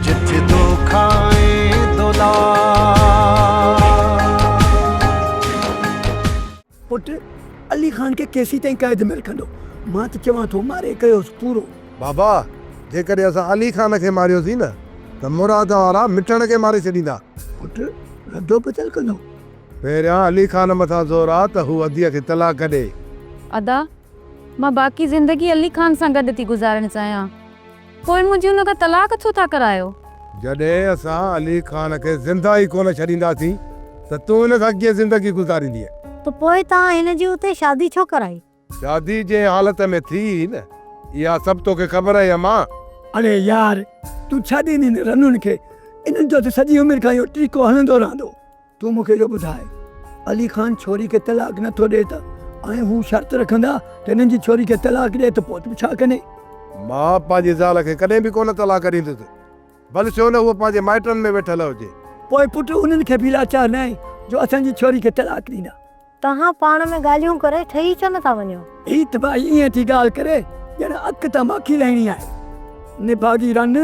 جت دو کائين دولار. پٽ علي خان کي ڪيسين تائين قيد ۾ رکندا؟ مان ته چوان ٿو ماري ڪيوس پورو. بابا جيڪڏهن اسان علي خان کي ماريوسين نه ته مراد وارا مٺڻ کي ماري ڇڏيندا. پٽ ردو بدل ڪندو. پهريان علي خان مٿان زور آ ته هو اديء کي طلاق ڏي. ادا مان باقي زندگي علي خان سان گڏ ٿي گذارڻ چاهيان. پوء منهنجي ان کان طلاق ڇو ٿا ڪرايو؟ جڏهن اسان علي خان کي زنده ئي ڪونه ڇڏينداسين ته تون هن سان ڪيئن زندگي گذاريندينء؟ ته پوء توهان هن جي اتي شادي ڇو ڪرائي؟ شادي جنهن حالت ۾ ٿي هئي نه، اها سڀ توکي خبر آهي امان! اڙي يار! تون ڇا ڏيندين رنون کي؟ انهن جو ته سڄي عمر کان اهو ٽيڪو هڻندو رهندو. تون مون کي اهو ٻڌاء علي خان ڇوري کي طلاق نه ٿو ڏئي ته آئين هو شرط رکندا ته هنن جي ڇوري کي طلاق ڏئي ته پوء تون ڇا ڪندين؟ مان پنهنجي زال کي ڪڏهن به ڪونه طلاق ڏيندس ڀل ڇو نه هوء پنهنجي مائٽن ۾ ويٺل هجي. پوء پٽ انهن کي به لاچار نه آهين جو اسان جي ڇوري کي طلاق ڏيندا. توهان پاڻ ۾ ڳالهيون ڪري ٺهي ڇو نٿا وڃو؟ هي تباهي ائين ٿي ڳالهه ڪري ڄڻ اک تان ماکي لهڻي آهي. نڀاڳي رن،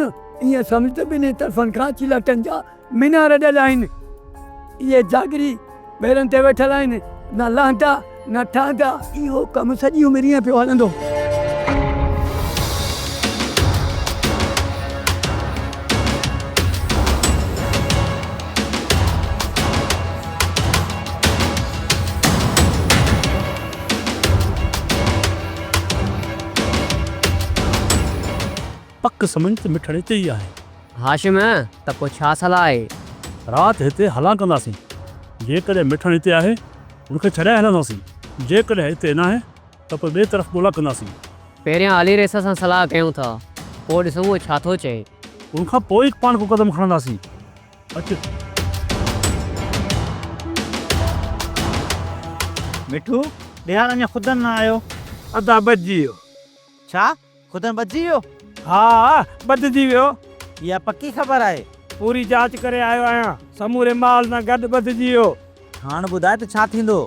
ائين سمجهه ته ٻنهي طرفن کان چلهٽن جا مينار ڏيل آهن. اهي جاگيري ويرن تي ويٺل آهن، نه لهندا، نه ٺهندا. اهو ڪم سڄي عمر ائين پيو هلندو. پڪ سمجهه ته مٺڙ اتي ئي آهي. هاشم، ته پوء ڇا صلاح آهي؟ رات هتي هلان ڪنداسين. جيڪڏهن مٺڙ اتي آهي، هن کي ڇڏائي هلنداسين. جيڪڏهن اتي ناهي. ته پوء ٻئي طرف ڳولا ڪنداسين. پهريان علي ريسا سان صلاح ڪيون ٿا، پوء ڏسون هو ڇا ٿو چئي. ان کان پوء ئي پاڻ ڪو قدم کڻنداسين. اچ! مٺو، ڏيهار اڃا خود نه آيو. ادا بچجي ويو. ڇا؟ خدائن ٻڌجي ويو؟ ها ٻڌجي ويو. اها پڪي خبر آهي؟ پوري جاچ ڪري آيو آهيان. سموري مال سان گڏ ٻڌجي ويو. هاڻ ٻڌاء ته ڇا ٿيندو؟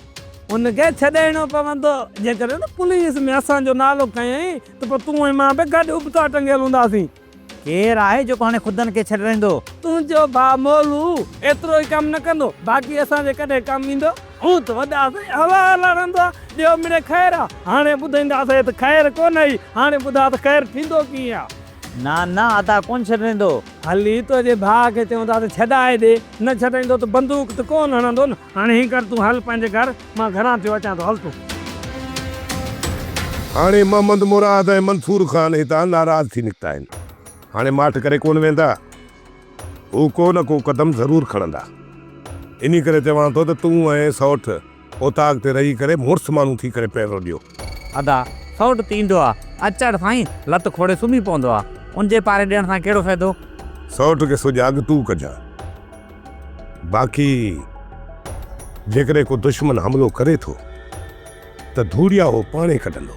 ان کي ڇڏائڻو پوندو. جيڪڏهن پوليس ۾ اسان جو نالو کنيائين ته پوء تون ۽ مان به گڏ ابتا ٽنگيل هونداسين. ڪير آهي جيڪو هاڻي خدائن کي ڇڏرائيندو؟ تنهنجو ڀاء مولو ايترو ئي ڪم نه ڪندو. باقي اسان جي ڪڏهن ڪم ايندو؟ اوت وڏا سائين هوا هلڻ هندا ڏيو مڙي خير آ هاڻي ٻڌائيندا سائين ته خير ڪونه هي هاڻي ٻڌاء ته خير ٿيندو ڪيئن آ. نه نه ادا ڪونه ڇڏيندو. هلي تنهنجي ڀاء کي چئون ٿا ته ڇڏائي ڏي نه ڇڏائيندو ته بندوق ته ڪونه هڻندو نه هاڻي هين ڪر تون هل پنهنجي گهر مان گهران ٿيو اچان ٿو هل تون. هاڻي محمد مراد ۽ منصور خان هتان ناراض ٿي نڪتا آهن هاڻي ماٺ ڪري ڪونه ويندا. هو ڪو نه ڪو قدم ضرور کڻندا. انهي ڪري چوان ٿو ته تون ۽ سئوٽ اوطاق تي رهي ڪري مڙس ماڻهو ٿي ڪري پيرو ڏيو. ادا، سئوٽ ته ايندو آ، اچڙ سائين، لت کوڙي سمهي پوندو آ. ان جي پاري ڏيڻ سان ڪهڙو فائدو؟ سئوٽ کي سجاڳ تون ڪجان. باقي جيڪڏهن ڪو دشمن حملو ڪري ٿو. ته ڌوڙيا هو پاڻهي ڪڍندو.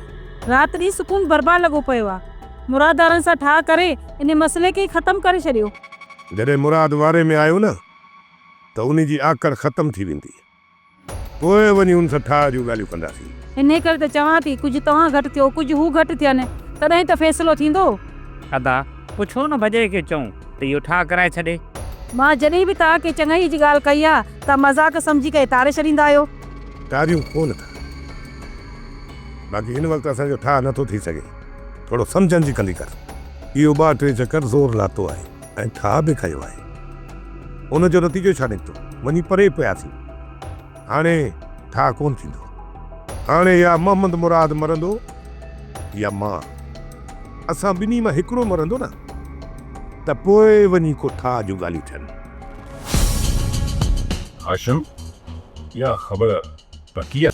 رات ڏينهن سڪون برباد لڳو پيو آ. مراد دارن سان ٺاهه ڪري انهي مسئلي کي ئي ختم ڪري ڇڏيو. جڏهن مراد واري ۾ آيو نه ته انهي جي آڪڙ ختم ٿي ويندي. پوء وڃي ان سان ٺاهه جون ڳالهيون ڪنداسين. انهي ڪري ته چوان ٿي ڪجهه توهان گهٽ ٿيو ڪجهه هو گهٽ ٿين تڏهن ته فيصلو ٿيندو. ادا پوء ڇو نه ڀڄئي کي چئون ته اهو ٺاهه ڪرائي ڇڏي. مان جڏهن به توهان کي چڱائيء جي ڳالهه ڪئي آ توهان مذاق سمجهي ڪري ٽاري ڇڏيندا آهيو. ٽاريون ڪونه ٿا باقي هن وقت اسان جو ٺاهه نٿو ٿي سگهي ٿورو سمجهن جي ڪندي ڪر اهو ٻه ٽي چڪر زور لاتو آهي ۽ ٺاهه به کنيو آهي ان جو نتيجو ڇا نڪتو وڃي پري پياسين هاڻي ٺاهه ڪونه ٿيندو هاڻي يا محمد مراد مرندو يا مان اسان ٻنهي مان هڪڙو مرندو نه ته پوء وڃي ڪو ٺاهه جون ڳالهيون ٿين. هاشم، اها خبر پڪي آهي؟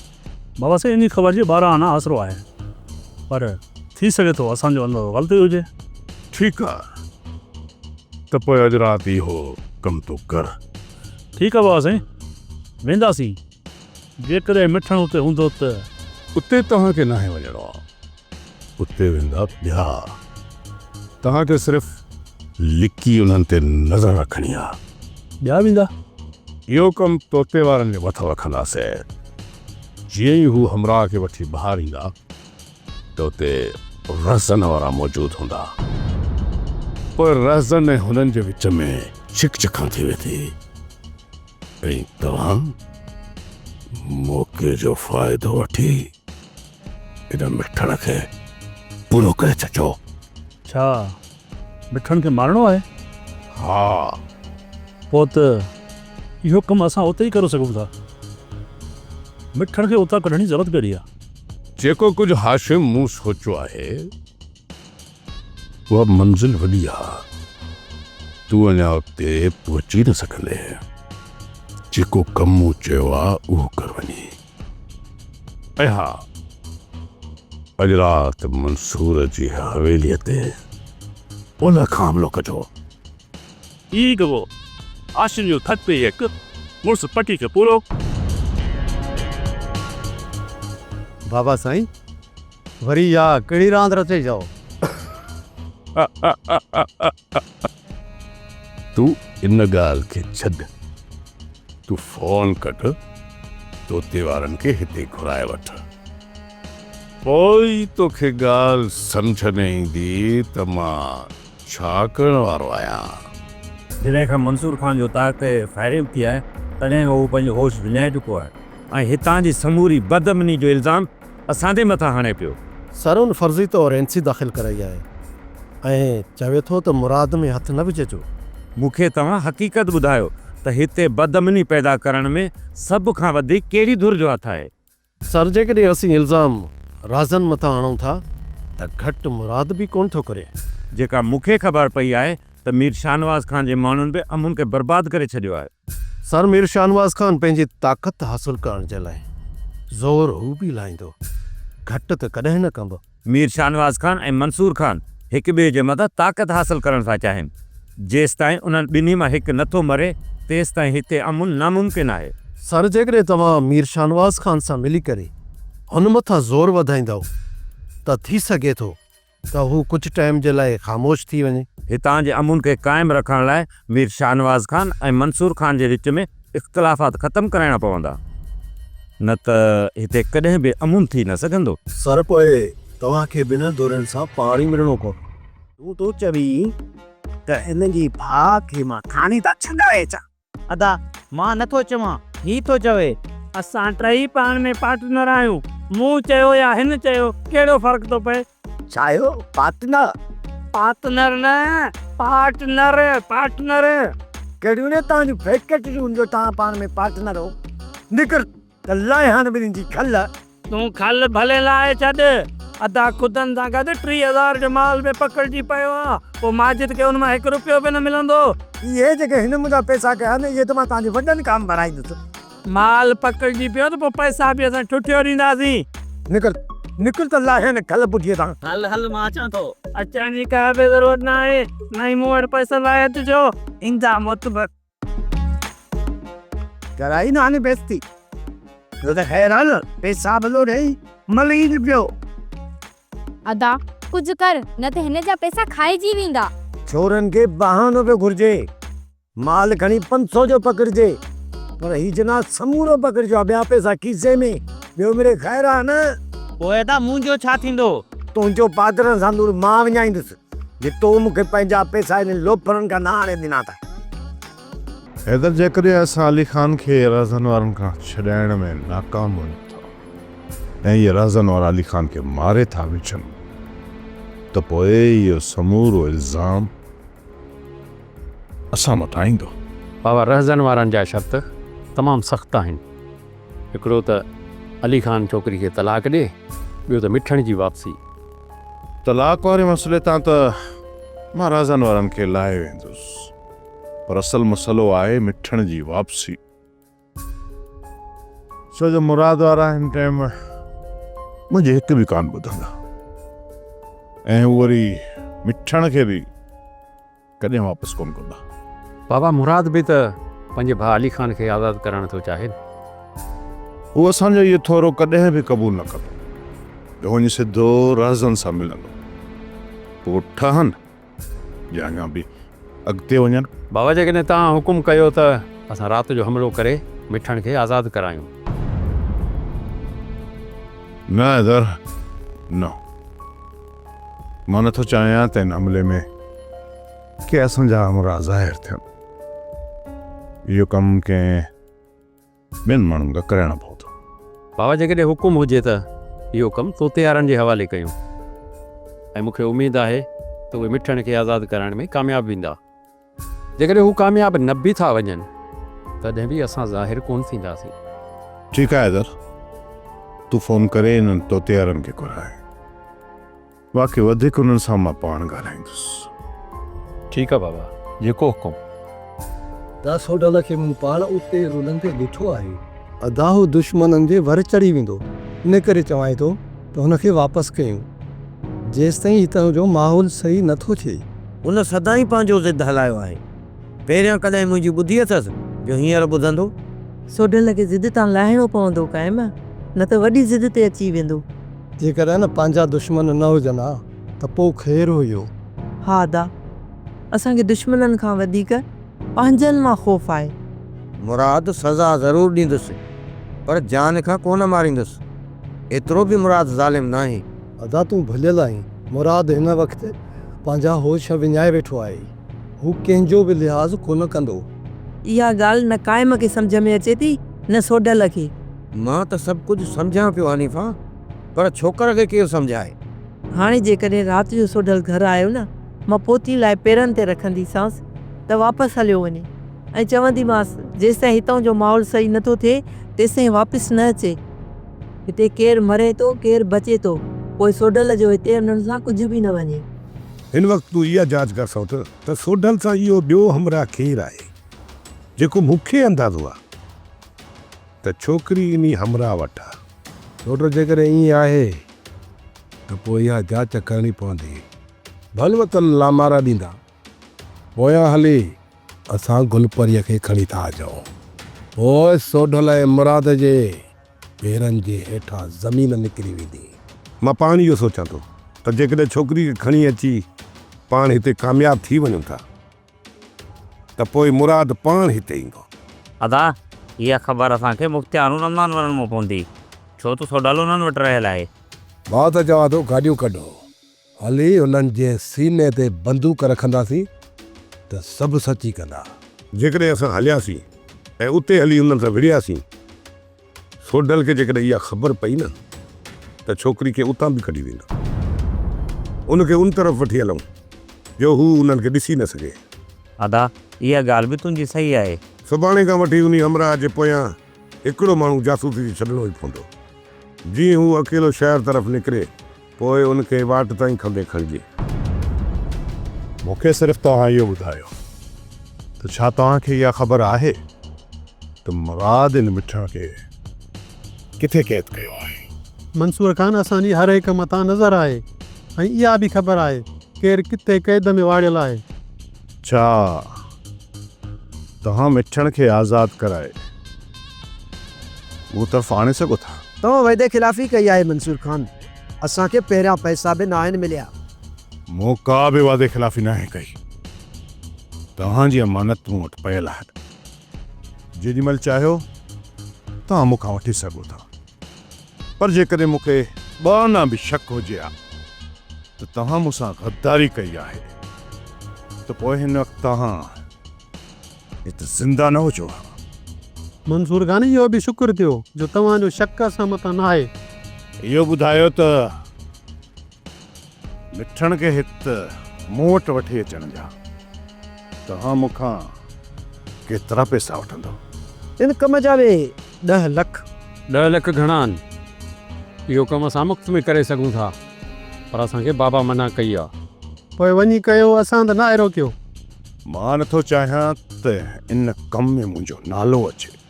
بابا سائين انهي خبر جي ٻاهران آنا آسرو آهي پر ٿي سگهي ٿو اسان جو اندازو غلط ئي هجي. ٺيڪ آ ته پوء اڄ رات اهو ڪم تون ڪر. ٺيڪ آ بابا سائين وينداسين جيڪڏهن مٺڻ اتي هوندو ته. اتي توهان کي ناهي وڃڻو. اتي ويندا پيا. توهان کي صرف لڪي انهن تي نظر رکڻي آ. ٻيا ويندا. اهو ڪم توتي وارن جي مٿن رکنداسين. جيئن ئي هو همراهه کي وٺي ٻاهر ايندا ته اتي رهزن وارا موجود هوندا. پوء رهزن ۽ هنن جي وچ ۾ ڇڪ ڇڪان ٿي ويندي ۽ توهان موقعي جو فائدو وٺي. ان مٺڻ کي پورو ڪري ڇڏجو. ڇا مٺڻ کي مارڻو آهي؟ ها. پوء ته اهو ڪم اسان اتي ئي ڪري سگهون ٿا. مٺڻ کي اتان ڪڍڻ جي ضرورت ڪهڙي آهي؟ جيڪو ڪجهه هاشم مون سوچيو آهي، اها منزل وڏي آهي. تون اڃا اتي پهچي نه سگهندين. جيڪو ڪم مون چيو آهي، اهو ڪر وڃي. ۽ ها! اڄ رات منصور جي حويليء تي اولهه کان حملو ڪجو. هي گوء عاشقن جو ٿڪ پئي هڪ مڙس پٽي کي پورو. بابا سائين! وري اها ڪهڙي راند رچئي چئو؟ تون ان ڳالهه کي ڇڏ، تون فون ڪٽ، توتي وارن کي هتي گهرائي وٺ، پوء ئي توکي ڳالهه سمجهه ۾ ايندي ته مان ڇا ڪرڻ وارو آهيان. جڏهن کان منصور خان جو تاج تي فائرنگ ٿي آهي، تڏهن کان هو پنهنجو هوش وڃائي چڪو آهي ۽ هتان جي سموري بدامني جو الزام اسان تي مٿا هڻي پيو. سر ان فرضي طور اين سي داخل ڪرائي آهي ۽ چوي ٿو ته مراد ۾ هٿ نه وجهجو. مون کي توهان حقيقت ٻڌايو ته هتي بدامني پيدا ڪرڻ ۾ سڀ کان وڌيڪ ڪهڙي ڌر جو هٿ آهي؟ سر جيڪڏهن اسين الزام رازن مٿان هڻون ٿا ته گهٽ مراد به ڪونه ٿو ڪري. جيڪا مون کي خبر پئي آهي ته مير شاهنواز خان جي ماڻهن به امن کي برباد ڪري ڇڏيو آهي. سر مير شاهنواز خان پنهنجي طاقت حاصل ڪرڻ جي لاء زور هو به لاهيندو، گهٽ ته ڪڏهن نه ڪندو. مير شاهنواز خان ۽ منصور خان هڪ ٻئي جي مٿان طاقت حاصل ڪرڻ ٿا چاهين. جيستائين انهن ٻنهي مان هڪ نه ٿو مري، تيستائين هتي امن ناممڪن آهي. سر جيڪڏهن توهان مير شاهنواز خان سان ملي ڪري هن مٿان زور وڌائيندؤ ته ٿي سگهي ٿو ته هو ڪجهه ٽائيم جي لاء خاموش ٿي وڃي. هتان جي امن کي قائم رکڻ لاء مير شاهنواز خان ۽ منصور خان جي وچ ۾ اختلافات ختم ڪرائڻا پوندا، نه ته هتي ڪڏهن به امن ٿي نه سگهندو. سر پوء توهان کي ٻنهن ڌرين سان پاڻ ئي ملڻو پوندو. تون ٿو چوين ته هن جي ڀاء کي مان ٿاڻي تان ڇڏائي اچان؟ ادا مان نه ٿو چوان هي ٿو چوي. اسان ٽئي پاڻ ۾ پارٽنر آهيون. مون چيو يا هن چيو ڪهڙو فرق ٿو پئي. ڇا اهو پارٽنر. پارتنر نه پارٽنر پارٽنر. ڪهڙيون نه توهان جون فيڪٽريون جو توهان پاڻ ۾ پارٽنر هو. نڪر ته لائي هاڻ ٻنين جي کل. تون کل ڀلي لائي ڇڏ. ادا خدن سان گڏ ٽيهه هزار جو مال به پڪڙجي پيو آ. پوء ماجد کي ان مان هڪ رپيو به نه ملندو. اهي جيڪي هن منهنجا پئسا ڪيا آهن اهي ته مان تنهنجي وڏن ڪام ڀرائيندس. مال پڪڙجي پيو ته پوء پئسا به اسان ٺٺيو ڏينداسين. نڪر نڪر ته لائي هن کل ٻڍيء تان. هل هل مان اچان ٿو. اچڻ جي ڪا به ضرورت ناهي. نه ئي مون وٽ پئسن لاء اچجو. ايندا معتبر. ڪرائي ناهي بيستي جو ته حيران پيسابلو ڏيئي ملير پيو. ادا ڪجهه ڪر نه ته هن جا پيسا کائجي ويندا. چورن کي بهانو پيو گهرجي مال کڻي پنج سؤ جو پڪڙجي پر هي جناح سمورو پڪڙجو ها ٻيا پيسا کيسي ۾ ٻيو مڙئي خير آهي نه. پوء ادا منهنجو ڇا ٿيندو. تنهنجو پادرن سان نور مان وڃائيندس. جي تو مون کي پنهنجا پيسا انهن لوفرن کان نه آڻي ڏنا ته. حيدر جيڪڏهن اسان علي خان کي رهزن وارن کان ڇڏائڻ ۾ ناڪام وڃون ٿا ۽ اهي رهزن وارا علي خان کي ماري ٿا وجهن ته پوء اهو سمورو الزام اسان مٿان ايندو. بابا رهزن وارن جا شرط تمام سخت آهن. هڪڙو ته علي خان ڇوڪري کي طلاق ڏي، ٻيو ته مٺڻ جي واپسي. طلاق واري مسئلي تان ته مان رازن وارن کي لاهي ويندس پر اصل مسئلو آهي مٺڻ جي واپسي ڇو جو مراد وارا هن ٽيم منهنجي هڪ به ڪانه ٻڌندا ۽ هو وري مٺڻ کي به ڪڏهن واپس ڪونه ڪندا. بابا مراد به ته پنهنجي ڀاء علي خان کي آزاد ڪرائڻ ٿيو چاهي نه. هو اسان جو اهو ٿورو ڪڏهن به قبول نه ڪندو. هو وڃي سڌو رهزن سان ملندو. پوء ٺهن يا اڃا به اڳتي وڃن. بابا جيڪڏهن توهان حڪم ڪيو ته اسان رات جو حملو ڪري مٺڻ کي آزاد ڪرايون. نه حيدر نه. مان نه ٿو چاهيان ته ان عملي ۾ ڪي اسان جا همراهه ظاهر ٿين. اهو ڪم ڪنهن ٻين ماڻهن کان ڪرائڻو پوندو. بابا جيڪڏهن حڪم هجي ته اهو ڪم طوطيارن جي حوالي ڪيون ۽ مون کي اميد آهي ته اهي مٺڻ کي آزاد ڪرائڻ ۾ ڪامياب ويندا. جيڪڏهن هو ڪامياب نه به ٿا وڃن تڏهن به اسان ظاهر ڪونه ٿينداسين. ٺيڪ آهي حيدر، تون فون ڪري انهن طوطي وارن کي گهرائي. باقي وڌيڪ انهن سان مان پاڻ ڳالهائيندس. ٺيڪ آهي بابا، جيڪو حڪم. داس هوڊل کي مون پاڻ اتي رلندي ڏٺو آهي. ادا هو دشمنن جي ور چڙهي ويندو، ان ڪري چوانء ٿو. ته هن کي واپس ڪيون، جيستائين هتان جو ماحول صحيح نه ٿو ٿئي. هن سدائين پنهنجو ضد هلايو آهي. پهريان ڪڏهن منهنجي ٻڌي اٿس جو هينئر ٻڌندو. سوڍل کي ضد تان لاهڻو پوندو قائم، نه ته وڏي ضد تي اچي ويندو. جيڪڏهن پنهنجا دشمن نه هجن ها ته پوء خير هيو. ها ادا، اسان کي دشمنن کان وڌيڪ پنهنجن مان خوف آهي. مراد، سزا ضرور ڏيندس، پر جان کان ڪونه ماريندس. ايترو به مراد ظالم ناهي. ادا تون ڀليل آهين. مراد هن وقت پنهنجا هوش وڃائي ويٺو آهي. هو ڪنهن جو به لحاظ ڪونه ڪندو. اها ڳالهه نه قائم کي سمجهه ۾ اچي ٿي نه سوڍل کي. مان ته سڀ ڪجهه سمجهان پيو حنيفه پر ڇوڪر کي ڪير سمجهائي. هاڻي جيڪڏهن رات جو سوڍل گهر آيو نه مان پوتي لاهي پيرن تي رکنديسانس ته واپس هليو وڃي. ائين چونديمانس، جيستائين هتان جو ماحول صحيح نه ٿو ٿئي، تيستائين واپس نه اچي. هتي ڪير مري ٿو، ڪير بچي ٿو، پوء سوڍل جو هتي انهن سان ڪجهه به نه وڃي. هن وقت تون اها جاچ ڪر سوڍل ته سوڍل سان اهو ٻيو همراهه ڪير آهي، جيڪو مون کي اندازو آهي ته ڇوڪري انهي همراهه وٽ آهي. سوڍل، جيڪڏهن ائين آهي ته پوء اها جاچ ڪرڻي پوندي. ڀل وطن لامارا ڏيندا، پويان هلي اسان گلپريء کي کڻي ٿا اچون. پوء سوڍل ۽ مراد جي پيرن جي هيٺان زمين نڪري ويندي. مان پاڻ اهو سوچان ٿو ته جيڪڏهن ڇوڪريء کي کڻي اچي پاڻ هتي ڪامياب ٿي وڃون ٿا ته پوء مراد پاڻ هتي ايندو. ادا، اها خبر اسان کي مختيار الرحمان وارن مون پوندي، ڇو ته سوڍل انهن وٽ رهيل آهي. مان ته چوان ٿو گاڏيون ڪڍو. هلي انهن جي سيني تي بندوق رکنداسين ته سڀ سچي ڪندا. جيڪڏهن اسان هلياسين ۽ اتي هلي انهن سان وڙهياسين، سوڍل کي جيڪڏهن اها خبر پئي نه ته ڇوڪري کي اتان به ڪڍي ويندا. ان کي ان طرف وٺي هلون جو هو انهن کي ڏسي نه سگهي. ادا اها ڳالهه به تنهنجي صحيح آهي. سڀاڻي کان وٺي انهي همراهه جي پويان هڪڙو ماڻهو جاسوسي جي ڇڏڻو ئي پوندو. جيئن هو اڪيلو شهر طرف نڪري، پوء ان کي واٽ تان ئي کنڀي کڻجي. مون کي صرف توهان اهو ٻڌايو ته ڇا توهان کي اها خبر آهي ته مراد ان مٺڻ کي ڪٿي قيد ڪيو آهي؟ منصور خان اسان جي هر هڪ مٿان نظر آهي ۽ اها به خبر آهي ڪير ڪٿي قيد ۾ واڙيل آهي. ڇا توهان مٺڻ کي آزاد ڪرائي مون طرف آڻي سگهو ٿا؟ توهان وعدي خلافي ڪئي آهي منصور خان، اسان کي پهريان پئسا به ناهن مليا. مون ڪا به وعدي خلافي ناهي ڪئي، توهان جي امانت مون وٽ پيل آهي، جيڏي مهل چاهيو توهان مون کان وٺي سگهو ٿا. پر جيڪڏهن مون کي ٻه آنا به شڪ هجي ها ته توهان مون سان غداري ڪئي آهي ته پوء هن وقت توهان هت زنده نه هجو ها. منصور خان اهو به شڪر ٿيو جو توهان جو شڪ اسان مٿان ناهي. اهو ٻڌايو ته. مٺڻ کي هت مون وٽ وٺي اچڻ جا توهان مون کان ڪيترا پئسا وٺندؤ؟ ان ڪم جا به ڏهه لک. ڏهه لک گهڻا آهن. اهو ڪم اسان مفت ۾ ڪري سگهون ٿا، پر اسان کي بابا منع ڪئي آ. پوء وڃي ڪيو، اسان ته ناهي روڪيو. مان نٿو چاهيان ته ان ڪم ۾ منهنجو نالو اچي.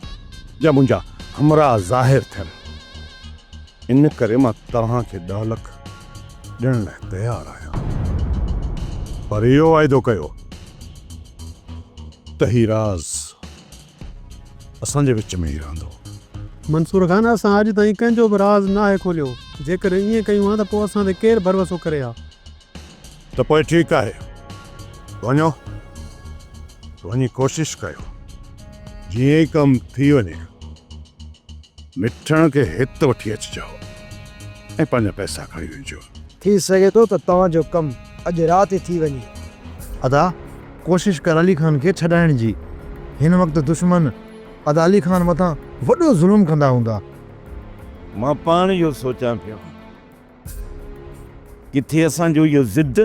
جا منهنجا همراهه ظاهر ٿين، ان ڪري مان توهان کي ڏهه لک ڏيڻ لاء تيار آهيان، پر اهو واعدو ڪيو ته هي راز اسان جي وچ ۾ ئي رهندو. منصور خان، اسان اڄ تائين ڪنهن جو به راز ناهي کوليو، جيڪڏهن ائين ڪيون ها ته پوء اسان تي ڪير ڀروسو ڪري ها؟ ته پوء ٺيڪ آهي، وڃو، وڃي ڪوشش ڪيو، جيئن ئي ڪم ٿي وڃي، مٺڻ کي هت وٺي اچجو ۽ پنهنجا پئسا کڻي وڃجو. ٿي سگهي ٿو ته توهان جو ڪم اڄ رات ئي ٿي وڃي. ادا، ڪوشش ڪر علي خان کي ڇڏائڻ جي. هن وقت دشمن ادا علي خان مٿان وڏو ظلم ڪندا هوندا. مان پاڻ اهو سوچان پيو. ڪٿي اسان جو اهو ضد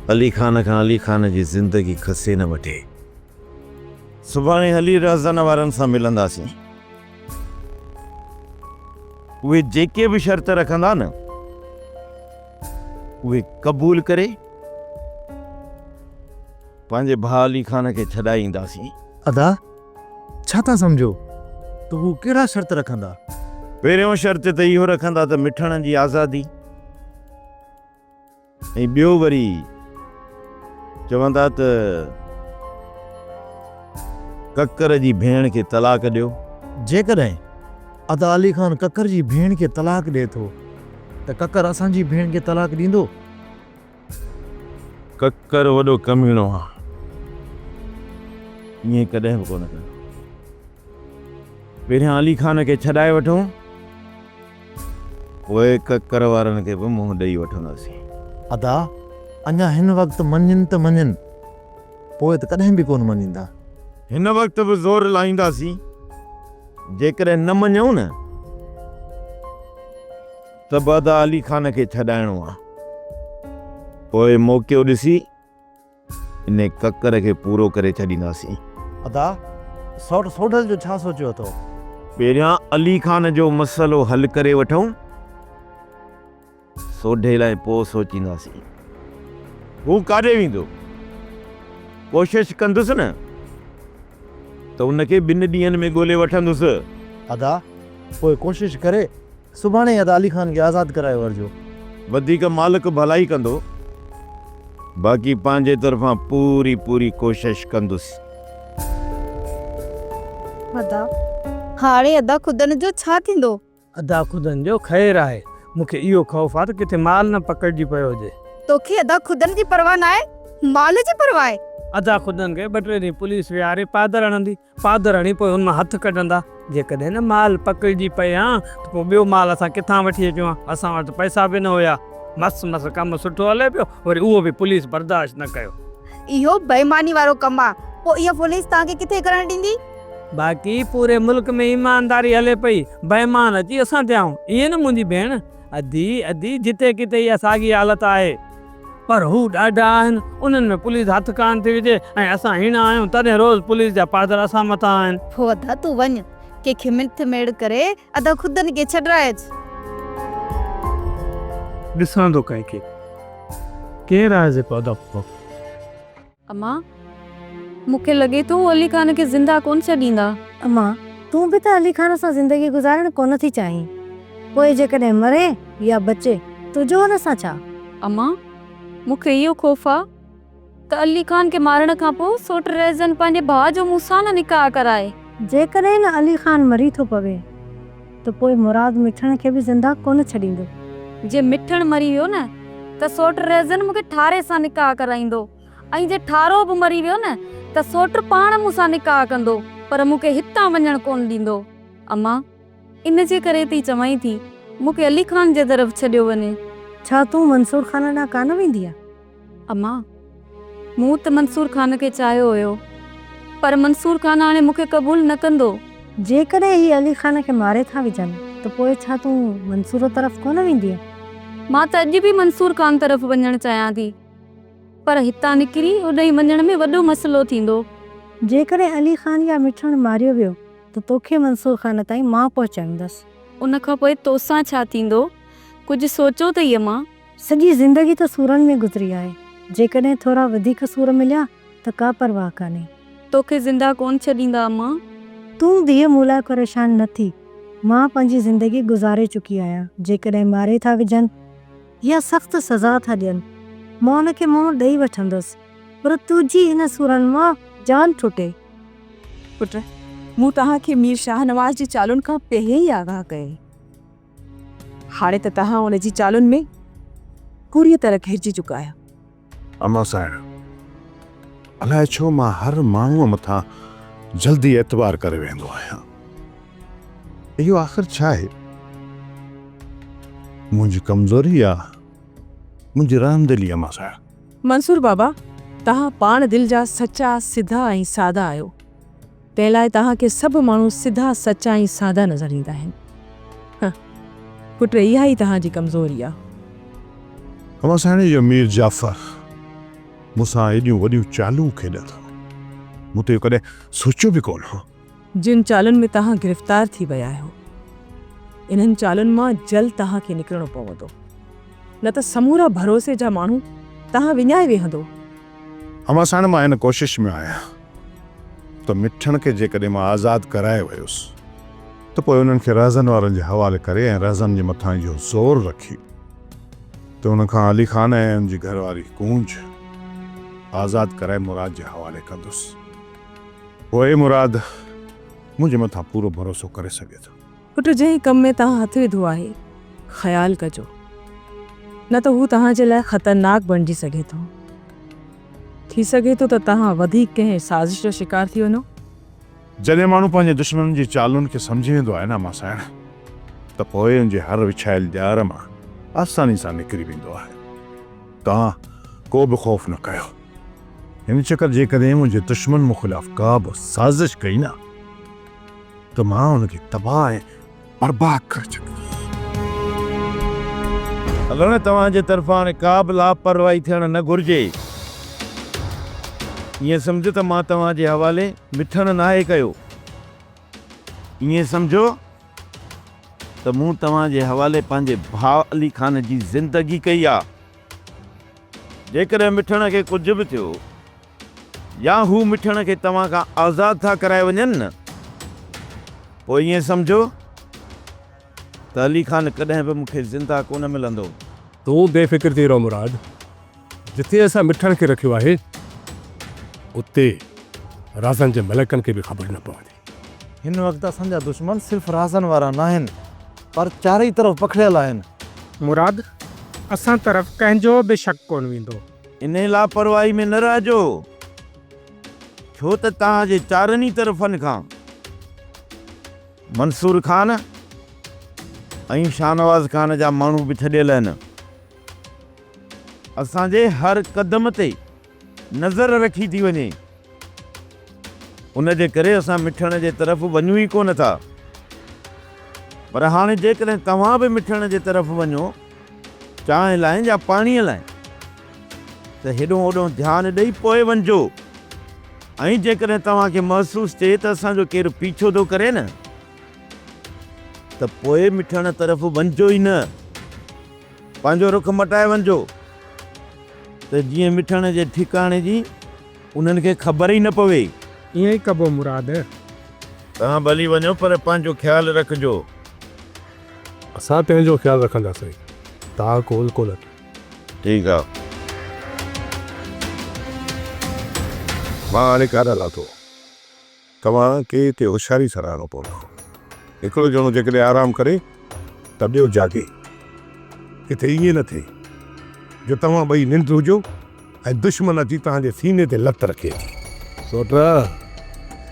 علي خان کان علي خان جي زندگي کسي نه وٺي. سڀاڻي هلي رهزن وارن سان ملنداسين. اهي جيڪي به شرط رکندا نه اهي قبول ڪري. پنهنجي ڀاء علي خان کي ڇڏائي اينداسين. ادا! ڇا ٿا سمجهو ته هو ڪهڙا شرط رکندا؟ پهريون شرط ته اهو رکندا ته مٺڻن جي آزادي ۽ ٻيو وري چوندا ته ڪڪر جي ڀيڻ کي طلاق ڏيو. جيڪڏهن ادا علي خان ڪڪر جي ڀيڻ کي طلاق ڏئي ٿو ته ڪڪر اسان جي ڀيڻ کي طلاق ڏيندو؟ ڪڪر وڏو ڪميڻو آ ائين ڪڏهن به ڪونه ڪندو. پهريان علي خان کي ڇڏائي وٺون پوء ڪڪر وارن کي به منهن ڏئي وٺنداسين. ادا اڃا هن وقت مڃين ته مڃين پوء ته ڪڏهن به ڪونه مڃيندا. هن وقت به زور لائينداسين جيڪڏهن نه مڃيون نه. ته به ادا علي خان کي ڇڏائڻو آ پوء موقعو ڏسي ان ڪڪر کي پورو ڪري ڇڏينداسين. ادا سئوٽ سوڍل جو ڇا سوچيو اٿو؟ پهريان علي خان جو مسئلو حل ڪري وٺون سوڍي لاء پوء سوچينداسين. هو ڪاڏي ويندو؟ ڪوشش ڪندس نه ته ان کي ٻن ڏينهن ۾ ڳولي وٺندس. ادا پوء ڪوشش ڪري. سڀاڻي يا ته علي خان کي آزاد ڪرائي ورجو. وڌيڪ مالڪ ڀلائي ڪندو. باقي پنهنجي طرفان پوري پوري ڪوشش ڪندس. ادا، هاڻي ادا خدن جو ڇا ٿيندو؟ ادا خدن جو خير آهي. مون کي اهو خوف آهي ته ڪٿي مال نه پڪڙجي پيو هجي. توکي ادا خدن جي پرواهه ناهي، مال جي پرواهه آهي. ادا خدن کي ٻه ٽي ڏينهن پوليس ويهاري پادر هڻندي. پادراڻي، پوء ان مان هٿ ڪڍندا؟ جيڪڏهن نه مال پڪڙجي پئي ها ته پوء ٻيو مال اسان ڪٿان وٺي اچون ها؟ اسان وٽ ته پئسا به نه هيا. مس مس ڪم سٺو هلي پيو، وري اهو به پوليس برداشت نه ڪيو. اهو بيماني وارو ڪم آ. پوء اها پوليس توهان کي ڪٿي ڪرڻ ڏيندي؟ باقي پوري ملڪ ۾ ايمانداري هلي پئي، بيمان اچي اسان تي آئون. ائين نه منهنجي ڀيڻ؟ ادي، ادي، جتي ڪٿي اها ساڳي حالت آهي. پر هو ڏاڍا آهن، انهن ۾ پوليس هٿ ڪانه ٿي وجهي ۽ اسان هيڻا آهيون، تڏهن روز پوليس جا پادر اسان مٿان آهن. پوء ادا تون وڃ، ڪنهن کي مڙٿ ميڙ ڪري ادا خود ان کي ڇڏرائي اچ. ڏسان ٿو ڪنهن کي، ڪير آهي جيڪو ادا پوء. اما، مون کي لڳي ٿو هو علي خان کي زنده ڪونه ڇڏيندا. اما، تون به ته علي خان سان زندگي گذارڻ ڪونه ٿي چاهين. پوء جيڪڏهن مري يا بچي، تنهنجو هن سان ڇا؟ اما، مون کي اهو خوف آ ته علي خان کي مارڻ کان پوء سوٽ ريزن پنهنجي ڀاء جو مون سان نه نڪاح ڪرائي. جيڪڏهن علي خان مري ٿو پوي. ته پوء مراد مٺڻ کي به زنده ڪونه ڇڏيندو. جي مٺڻ مري ويو نه ته سوٽ ريزن مون کي ٺاري سان نڪاح ڪرائيندو ۽ جي ٺارو به مري ويو نه ته سوٽ پاڻ مون سان نڪاح ڪندو پر مون کي هتان وڃڻ ڪونه ڏيندو. امان، ان جي ڪري ٿي چوانء ٿي مون کي علي خان جي طرف ڇڏيو وڃي. ڇا تون منصور خان ڏانهن ڪانه ويندينء؟ امان، مون ته منصور خان کي چاهيو هيو، پر منصور خان هاڻي مون کي قبول نه ڪندو. جيڪڏهن هي علي خان کي ماري ٿا وجهن ته پوء ڇا تون منصور طرف ڪونه ويندينء؟ مان ته اڄ به منصور خان طرف وڃڻ چاهيان ٿي، پر هتان نڪري اوڏهين وڃڻ ۾ وڏو مسئلو ٿيندو. جيڪڏهن علي خان يا مٺاڻ ماريو ويو ته توکي منصور خان تائين مان پهچائيندس. ان کان پوء توسان ڇا ٿيندو، ڪجهه سوچو ته اي امان! سڄي زندگي ته سورن ۾ گذري آهي، جيڪڏهن ٿورا وڌيڪ سور مليا ته ڪا پرواهه ڪانهي. توکي زنده ڪونه ڇڏيندا امان. تون ڌيء مون لاء پريشان نه ٿي، مان پنهنجي زندگي گذاري چڪي آهيان، جيڪڏهن ماري ٿا وجهن يا سخت سزا ٿا ڏين، مان ان کي منهن ڏئي وٺندس، پر تنهنجي هن سورن مان جان ٺٽي. پٽ، مون توهان کي مير شاهنواز جي چالن کان پهرين ئي آگاهه ڪيو. هاڻي ته توهان ان جي چالن ۾ پوريء طرح گهرجي چڪا آهيو. امان سانئڻ، الاء ڇو مان هر ماڻهوء مٿان جلدي اعتبار ڪري ويهندو آهيان. اهو آخر ڇا آهي؟ منهنجي ڪمزوري يا منهنجي رحم دلي امان سانئڻ؟ منصور بابا، توهان پاڻ دل جا سچا، سڌا ۽ سادا آهيو. تنهن لاء توهان کي سڀ ماڻهو سڌا سچا ۽ سادا نظر ايندا آهن. هه پٽ اها ئي توهان جي ڪمزوري آ. اوهان سهڻي جو مير جعفر مون سان ايڏيون وڏيون چالون کيڏن ٿو مون ته اهو ڪڏهن سوچيو به ڪونه هو. جن چالن ۾ توهان گرفتار ٿي ويا آهيو انهن چالن مان جلد توهان کي نڪرڻو پوندو نه ته سمورا ڀروسي جا ماڻهو توهان وڃائي ويهندو. اوهان سهڻ مان هن ڪوشش ۾ آهيان ته مٺڻ کي جيڪڏهن مان آزاد ڪرائي ويس ته پوء انهن کي رهزن وارن جي حوالي ڪري ۽ رهزن جي مٿان اهو زور رکي ته ان کان علي خان ۽ ان جي گهر واري ڪونج آزاد ڪرائي مراد جي حوالي ڪندس. پوء مراد منهنجي مٿان پورو ڀروسو ڪري سگهي ٿو. پٽ جنهن ڪم ۾ توهان هٿ وڌو آهي خيال ڪجو نه ته هو توهان جي لاء خطرناڪ بڻجي سگهي ٿو. ٿي سگهي ٿو ته توهان وڌيڪ ڪنهن سازش جو شڪار ٿي وڃو. جڏهن ماڻهو پنهنجي دشمنن جي چالن کي سمجهي ويندو آهي نه ماسائڻ ته پوء ان جي هر وڇايل ڄار مان آساني سان نڪري ويندو آهي. توهان ڪو به خوف نه ڪيو. هن چڪر جيڪڏهن منهنجي دشمن مون خلاف ڪا به سازش ڪئي نه. ته مان ان کي تباهه ۽ برباد ڪري ڇڏيندس. اگرنه توهان جي طرفان ڪابه لاپرواهي ٿيڻ نه گهرجي. ائين سمجهه ته مان توهان جي حوالي مٿڻ ناهي ڪيو. ائين سمجهو ته مون توهان جي حوالي پنهنجي ڀاء علي خان جي زندگي ڪئي آهي. جيڪڏهن مٿڻ کي ڪجهه به ٿيو. يا هو مٺڻ کي توهان کان آزاد ٿا ڪرائي وڃن نه پوء ائين سمجهو ته علي خان ڪڏهن به مون کي زنده ڪونه ملندو. تون بي فڪر ٿي رهه مراد، جتي اسان مٺڻ کي رکيو آهي اتي رازن جي ملڪن کي به خبر نه پوندي. هن وقت اسان جا دشمن صرف رازن وارا ناهن پر چارئي طرف پکڙيل آهن. مراد، اسان طرف ڪنهن جو به شڪ ڪونه ويندو. انهيء لاپرواهي ۾ نه رهجو، ڇو ته توهان جي چارن ئي طرفن کان منصور خان ۽ شاهنواز خان جا ماڻهو به ڇڏيل آهن. اسان جي هر قدم تي نظر رکي ٿي وڃي. ان جي ڪري اسان مٺڻ جي طرف وڃون ئي ڪو نه ٿا. پر هاڻي جيڪڏهن توهان به مٺڻ جي طرف وڃو، چانهه لاء يا پاڻيء لاء، ته هيڏهون هوڏهون ڌيان ڏئي پوء وڃجو ۽ جيڪڏهن توهان کي محسوس ٿئي ته اسان جو ڪير پيڇو ٿو ڪري نه، ته پوء مٺڻ طرف وڃجو ئي نه. پنهنجو رخ مٽائي وڃجو ته جيئن مٺڻ جي ٺڪاڻي جي انهن کي خبر ئي نه پوي. ائين ئي ڪبو مراد. توهان ڀلي وڃو پر پنهنجو خيال رکجو. اسان تنهنجو خيال رکنداسين. توهان ڪول ڪونه. ٺيڪ آ. مان هاڻي ڪاڏانهن لاتو. توهان کي اتي هوشياري سان رهڻو پوندو. هڪڙو ڄڻو جيڪڏهن آرام ڪري ته ٻيو جاڳي. ڪٿي ائين نه ٿئي جو توهان ٻئي ننڊ هجو ۽ دشمن اچي توهان جي سيني تي لت رکي اچي. سوٽرا،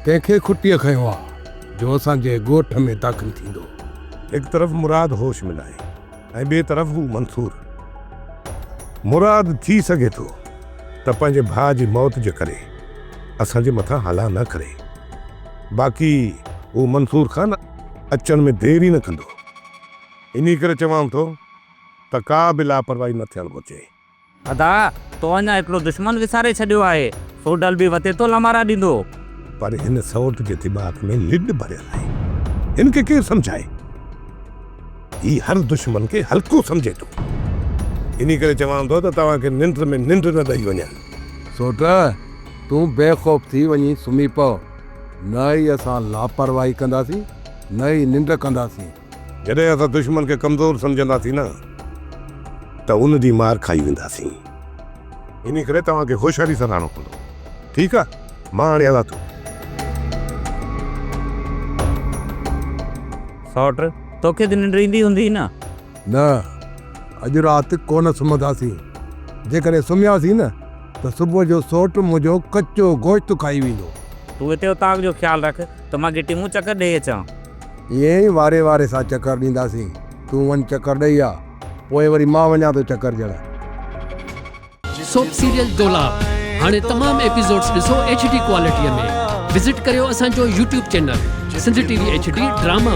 ڪنهن کي کٽيء کنيو آ جو اسان جي ڳوٺ ۾ داخل ٿيندو؟ هڪ طرف مراد هوش ۾ ناهي. ۽ ٻئي طرف هو منصور مراد ٿي سگهي ٿو ته پنهنجي ڀاء جي موت جي ڪري اسان جي مٿان هلا نه ڪري. باقي هو منصور خان اچڻ ۾ دير ئي نه ڪندو. انهي ڪري چوان ٿو ته ڪا به لاپرواهي نه ٿيڻ گهرجي. ادا، تو اڃا هڪڙو دشمن وساري ڇڏيو آهي، سو ڊل به وتي تو لمارا ڏيندو. پر هن سئوٽ جي دماغ ۾ لڏ ڀريل آهي. هن کي ڪير سمجهائي. هي هر دشمن کي هلڪو سمجهي ٿو. انهي ڪري چوان ٿو ته توهان کي ننڊ ۾ ننڊ نه ڏئي وڃان. سئوٽ، تون بي خوف ٿي وڃي سمهي پء. نه ئي اسان لاپرواهي ڪنداسين، نه ئي ننڊ ڪنداسين. جڏهن اسان دشمن کي ڪمزور سمجهنداسين نه ته ان ڏينهن مار کائي وينداسين. انهي ڪري توهان کي هوشياري سان رهڻو پوندو. ٺيڪ آ مان هاڻي هلان ٿو. سئوٽ، توکي ته ننڊ ايندي هوندي نه؟ نه، اڄ رات ڪونه سمهنداسين. جيڪڏهن سمهياسين نه ته صبح جو سئوٽ منهنجو ڪچو گوشت کائي ويندو. تون هتي اوطاق جو خيال رک ته مان گهٽي مون چڪر ڏيئي اچان. ائين ئي واري واري سان چڪر ڏينداسين. تون وڃ چڪر ڏئي آ، پوء وري مان وڃان ٿو چڪر ڏيڻ. سوپ سيريل دولاب هاڻي تمام ايپيسوڊز ڏسو ايڇ ڊي ڪوالٽي ۾ وزٽ ڪريو اسان جو YouTube channel Sindh T V H D drama.